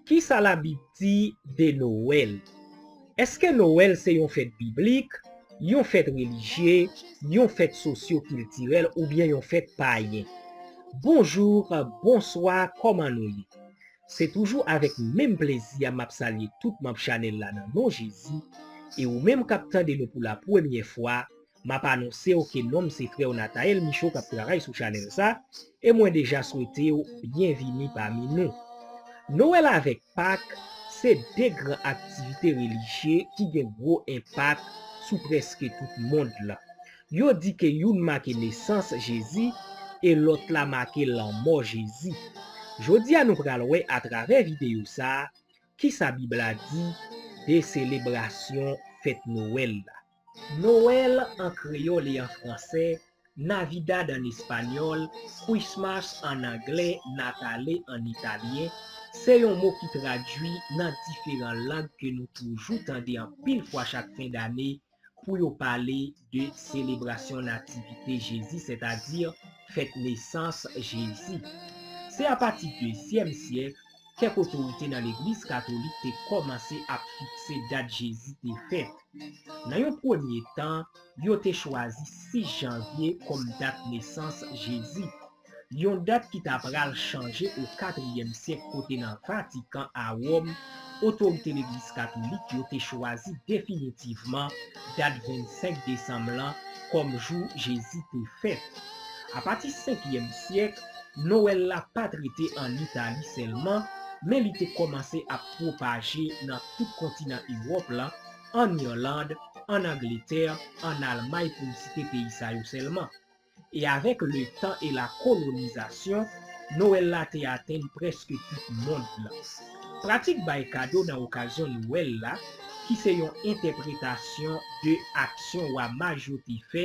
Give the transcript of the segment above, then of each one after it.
Ki sa Labib di de Nowèl? Èske Nowèl se yon fèt biblik, yon fèt relijye, yon fèt sosyo-kiltirèl oubyen yon fèt payen? Bonjou, bonswa, kòman nou ye? Se toujou avèk menm plezi a m ap salye tout manb chanèl la nan non Jezi, e ou menm k ap tande nou pou lapremyè fwa, Map anonsew ke nonm se frèw Nathael Michaud kap travay sou chanèl sa, e mwen deja swetew byen vini pami nou. Noel avèk Pak se 2 gran aktivite relijye ki gen gwo enpak sou prèske tout mond lan. Yo di ke youn make nesans Jezi e lòt la make lanmò Jezi. Jodia nou pral wè atravè videyo sa kisa Bib la di de selebrasyon fèt Noel la. Noël an kreyòl e an fransè, Navidad an espanyòl, Christmas an anglè, Natale an italyen, se yon mo ki tradui nan diferan lang ke nou toujou tande anpil fwa chak fen dane pou yo pale de selebrasyon nativite Jezi sètadi fèt nesans Jezi. Se apati dezyèm syèk Kèk otorite nan Legliz katolik te kòmanse ap fikse dat Jezi te fèt. Nan yon premye tan, yo te chwazi 6 janvye kòm dat nesans Jezi, yon dat ki t apral chanje o katriyèm syèk kote nan Vatikan a Wòm, otorite Legliz katolik yo te chwazi definitivman dat 25 desanm lan kòm jou Jezi te fèt. Apati senkyèm syèk, Nowèl la pa t rete ann Itali sèlman, men li te kòmanse ap pwopaje nan tout kontinan Ewòp la, ann Irland, ann Angletè, ann Almay pou m site peyi sa yo sèlman. E avèk letan e lakolonizasyon, Nowèl la te atenn prèske tout mond lan. Pratik bay kado nan okazyon Nowèl la, ki se yon entèpretasyon de aksyon wa maj yo te fè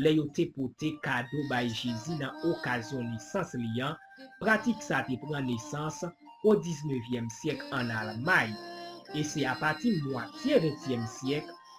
lè yo te pote kado bay Jezi nan okazyon nesans li an, pratik sa te pran nesans o diznevyèm syèk ann Almay, e se apati mwatye ventyèm syèk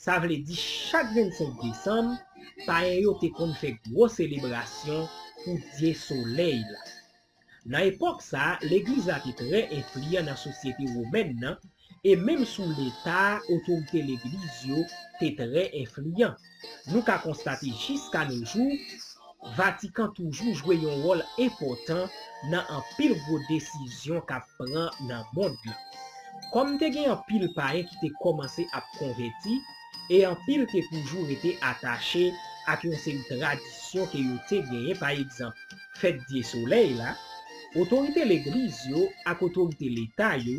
Sa vle di chak 25 desanm, payen yo te konn fè gwo selebrasyon pou dye solèy la. Nan epòk sa a, legliz la te trè enfliyan nan sosyete womèn nan, e menm sou leta a otorite legliz yo te trè enfliyan. Nou ka konstate jiska no jou, Vatikan toujou jwe yon wòl enpòtan nan anpil gwo desizyon k ap pran nan mond lan. Kòm te gen anpil payen ki te kòmanse ap konvèti e anpil te toujou rete atache ak yon seri tradisyon ke yo te genyen, pa egzanp, fèt dye solèy la, otorite legliz yo ak otorite leta yo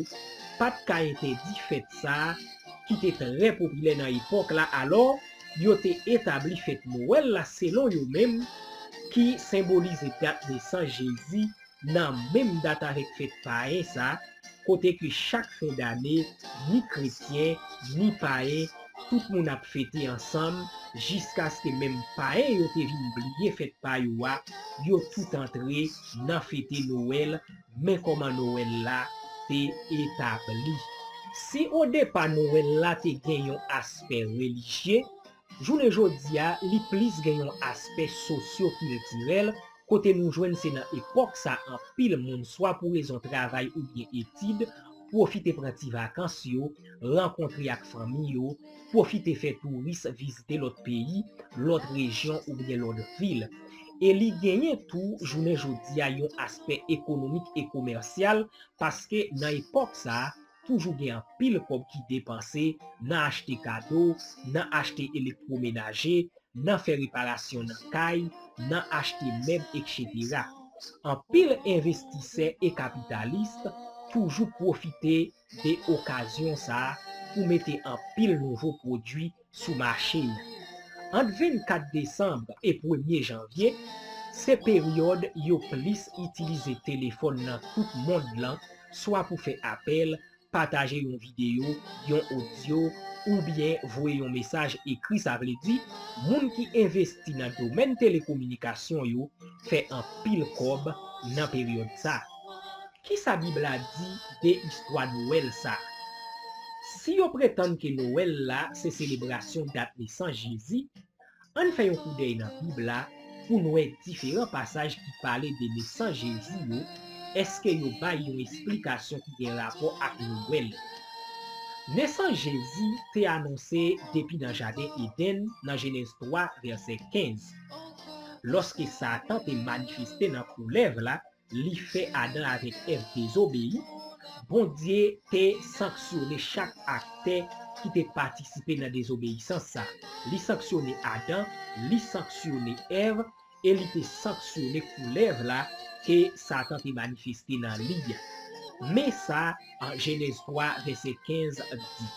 pa t ka entèdi fèt sa a ki te trè popilè nan epòk la. Alò, Yo te etabli fèt Nowèl la selon yo menm, ki senbolize dat nesans Jezi, nan menm dat avèk fèt payen sa, kote ke chak fen dane, ni kretyen, ni payen, tout moun ap fete ansanm, jiskaske menm payen yo te vin bliye fèt pa yo a, yo tout antre nan fete Nowèl Men kòman Nowèl la te etabli. Si odepa Nowèl la te gen yon aspè relijye, jounen jodi a li plis gen yon aspè sosyokiltirèl kote nou jwenn se nan epòk sa anpil moun swa pou rezon travay oubyen etid pwofite pran ti vakans yo, rankontre ak fanmi yo, Pwofite fè touris vizite lòt peyi, lòt rejyon oubyen lòt vil. E li genyen tou jounen jodi a yon aspè ekonomik e komèsyal paske nan epòk sa toujou gen anpil kòb ki depanse nan achte kado, nan achte elektwomenaje, nan fè reparasyon nan kay, nan achte mèb ekchetera. Anpil envestisè e kapitalis toujou pwofite de okazyon sa a pou mete anpil nouvo pwodui sou mache yo. Ant 24 desanm e premye janvye, se peryòd yo plis itilize telefòn nan tout mond lan swa pou fè apèl, pataje yon videyo, yon odyo, oubyen voye yon mesaj ekri sa vle di, moun ki envesti nan domèn telekominikasyon yo fè anpil kòb nan peryòd sa. Ki sa Bib la di de istwa Nowèl sa a? Si yo pretann ke Nowèl la se selebrasyon dat nesans Jezi, ann fè yon koudèy nan Bib la pou n wè diferan pasaj ki pale de nesans Jezi yo, èske yo bay yon esplikasyon ki gen rapò ak Nowèl. Nesans Jezi te anonse depi nan jaden Edenn nan Jenèz 3, vèsè 15, lòske Satan te manifeste nan koulèv la, Li fè Adan avèk Èv dezobeyi, Bondye te sanksyone chak aktè ki te patisipe nan dezobeyisans sa. Li sanksyone Adan, li sanksyone Èv, e li te sanksyone koulèv la ke Satan te manifeste nan li a. Men sa Jenèz 3, vèsè 15 di,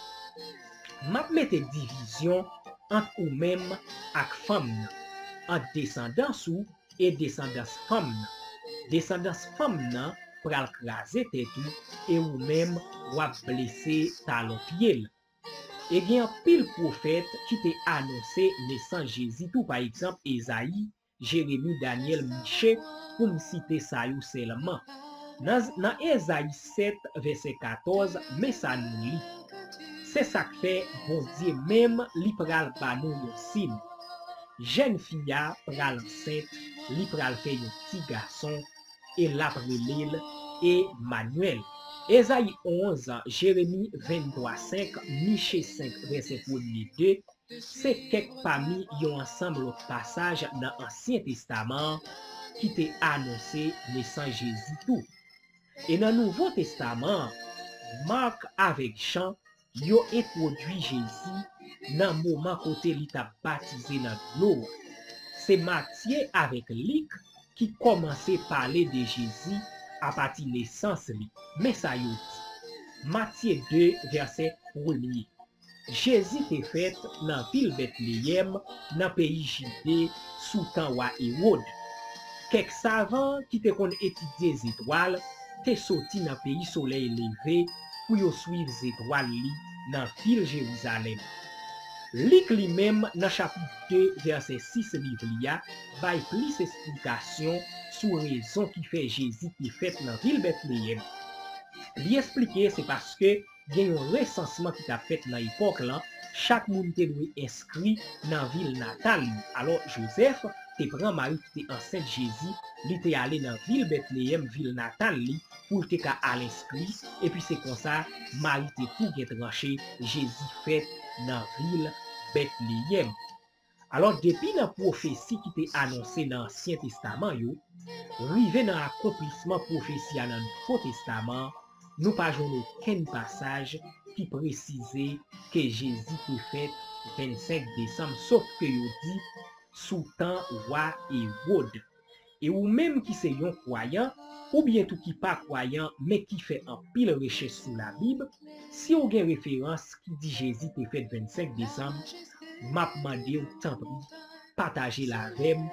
M ap mete divizyon ant ou menm ak fanm nan, ant desandans ou e desandans fanm nan. Desandans fanm nan pral kraze tèt ou e ou menm w ap blese talon pye l. E gen anpil pwofèt ki te anonse nesans Jezi tou pa egzanp Ezayi, Jeremi, Dànyèl, Miche pou m site sa yo sèlman. Nan nan Ezayi 7 vèsè 14 men sa nou li, Se sa k fè Bondye menm li pral ba nou yon sin. Jèn fi a pral ansent li pral fè yon ti gason e lap relel E manuel. Ezayi 11, Jeremi 23 5, Miche 5 vèsè premye 2, se kèk pami yon ansanm lòt pasaj nan ansyen testaman an ki te anonse nesans Jezi tou. E nan nouvo testaman an, Marc avèk Jean Yo entwodui Jezi nan moman kote li t ap batize nan dlo a. Se Matye avèk Lik ki kòmanse pale de Jezi apati nesans li. Men sa yo di, Matye 2, vèsè premye, Jezi te fèt nan vil Betleyèm nan peyi Jide sou tan wa Ewod. Kèk savan ki te konn etidye zetwal te soti nan peyi solèy leve pou yo suiv zetwal li nan vil Jerizalèm. Lik li menm nan chapit 2 vèsè 6 liv li a bay plis esplikasyon sou rezon ki fè Jezi te fèt nan vil Betleyèm. Li esplike se paske gen yon resansman ki t ap fèt nan epòk lan, chak moun te dwe enskri nan vil natal li. Alò, Jozèf te pran Mari ki te ansent Jezi, li te ale nan vil Betleyèm, vil natal li, pou l te ka al enskri, epi se konsa Mari te tou gen tranche Jezi fèt nan vil Betleyèm. Alò, depi nan pwofesi ki te anonse nan Ansyen Testaman yo, rive nan akonplisman pwofesi a nan Nouvo Testaman, nou pa jwenn okenn pasaj ki presize ke Jezi te fèt 25 desanm, sof ke yo di sou tan Wa Ewod. E ou menm ki se yon kwayan, oubyen tou ki pa kwayan men ki fè anpil rechèch sou labib, si ou gen referans ki di Jezi te fèt 25 desanm, m ap mande w tanpri pataje l avè m,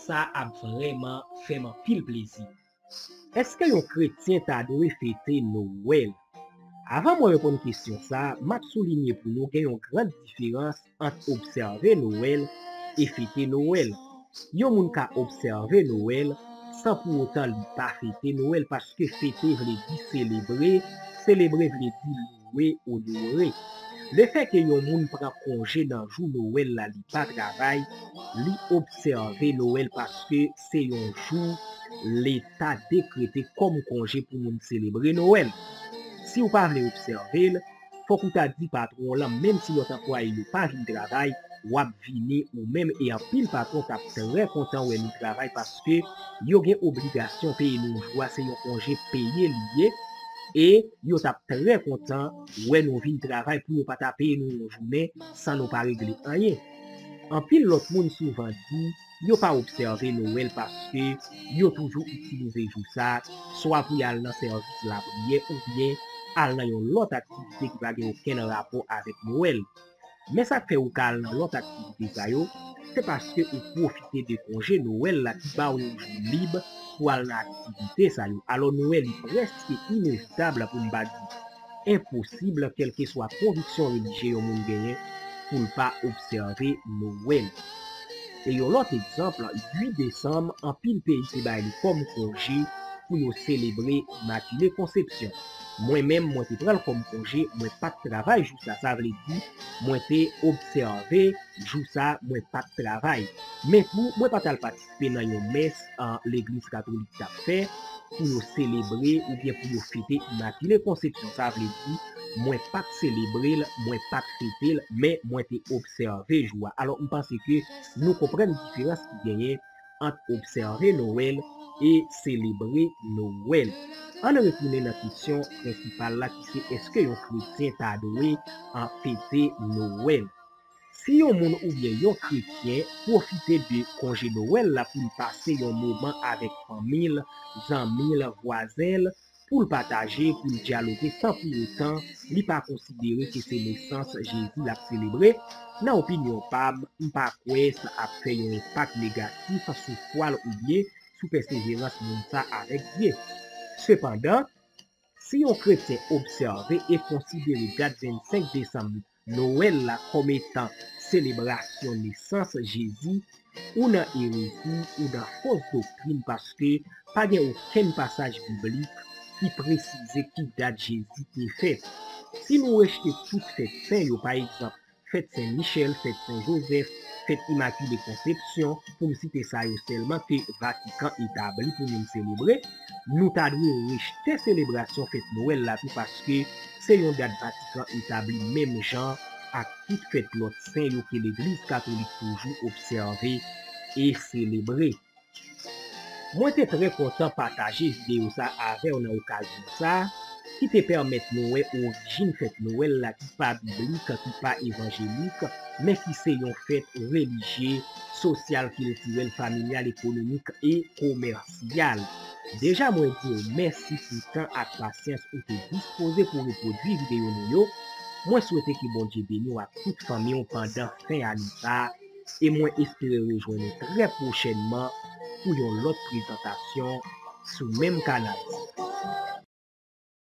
sa ap vrèman fè m anpil plezi. Èske yon kretyen ta dwe fete Nowèl? Avan mwen reponn kesyon sa, m ap soulinye pou nou gen yon gran diferans ant obsève Nowèl e fete Nowèl. Yon moun ka obsève Nowèl san pou otan li pa fete Nowèl paske fete vle di selebre, selebre vle di louwe, onore. Lefèke yon moun pran konje nan jou Nowèl la li pa travay, li obsève Nowèl paske se yon jou Leta dekrete kòm konje pou moun selebre Nowèl. Si w pa vle obsève l, Fòk ou ta di patwon w lan menm si lòt anplwaye yo pa vin travay, w ap vini ou menm e anpil patwon t ap trè kontan wè nou travay paske yo gen obligasyon peye nou jou a se yon konje peye li ye e yo t ap trè kontan wè nou vin travay pou yo pa ta peye nou yon jounen san nou pa regle anyen. Anpil lòt moun souvan di. yo pa obsève Nowèl paske yo toujou itilize jou sa swa pou y al nan sèvis lapriyè oubyen al nan yon lòt aktivite ki pa gen okenn rapò avèk Nowèl. Men sa k fè ou ka al nan lòt aktivite sa yo, se paske ou pwofite de konje Nowèl la ki ba w yon jou lib pou al nan aktivite sa yo. Alò Nwèl li prèske inevitab pou m pa di Enposib, kèlkeswa konviksyon relijye yon moun genyen, pou l pa obsève Nowèl. E yon lòt egzanp, 8 desanm, anpil peyi te bay li kòm konje pou yo selebre Imakile Konsepsyon. Mwen menm, mwen te pran l kòm konje, mwen pa t travay jou sa. Sa vle di, mwen te obsève jou sa, mwen pa t travay. Men tou, mwen pa t al patisipe. te nan yon mès legliz katolik t ap fè pou yo selebre oubyen pou yo fete Imakile Konsepsyon. Sa vle di, mwen pa t selebre l, mwen pa t fete l, men mwen te obsève jou a. Alò, m panse ke nou konprann diferans ki genyen ant obsève Nowèl e selebre Nowèl. An n retounen nan kesyon prensipal la ki se èske yon kretyen ta dwe fete Nowèl? Si yon moun oubyen yon kretyen pwofite de konje Nowèl la pou l pase yon moman avèk fanmi l, zanmi l, vwazen l, pou l pataje, pou l dyaloge san pou otan li pa konsidere ke se nesans Jezi l ap selebre, nan opinyon pa m, m pa kwè sa ap fè yon enpak negatif sou fwa l oubyen sou pèseverans moun sa avèk Dye. Sepandan, si yon kretyen obsève e konsidere dat 25 desanm Nowèl la kòm etan selebrasyon nesans Jezi ou nan erezi ou nan fos doktrin paske pa gen okenn pasaj biblik ki presize ki dat Jezi te fèt. Si nou rejte tout fèt sen yo pa egzanp fèt Sen Michèl, fèt Sen Jozèf, fèt Imakile Konsepsyon pou m site sa yo sèlman ke Vatikan etabli pou moun selebre, Nou ta dwe rejte selebrasyon fèt Nwèl la tou paske se yon dat Vatikan etabli menm jan ak tout fèt lòt sen yo ke Legliz Katolik toujou obsève e selebre. Mwen te trè kontan pataje videyo sa avè w nan okazyon sa ki te pèmèt nou wè orijin fèt Nwèl la ki pa biblik, ki pa evanjelik, men ki se yon fèt relijye, sosyal, kiltirèl, familyal, ekonomik e komèsyal. Gyal, deja mwen di w mèsi pou tan ak pasyans ou te dispoze pou repwodui videyo nou yo, mwen swete ke Bondye beni w ak tout fanmi w pandan fen ane sa a, e mwen espere rejwenn ou trè pwochènman pou yon lòt prezantasyon sou menm kanal sa.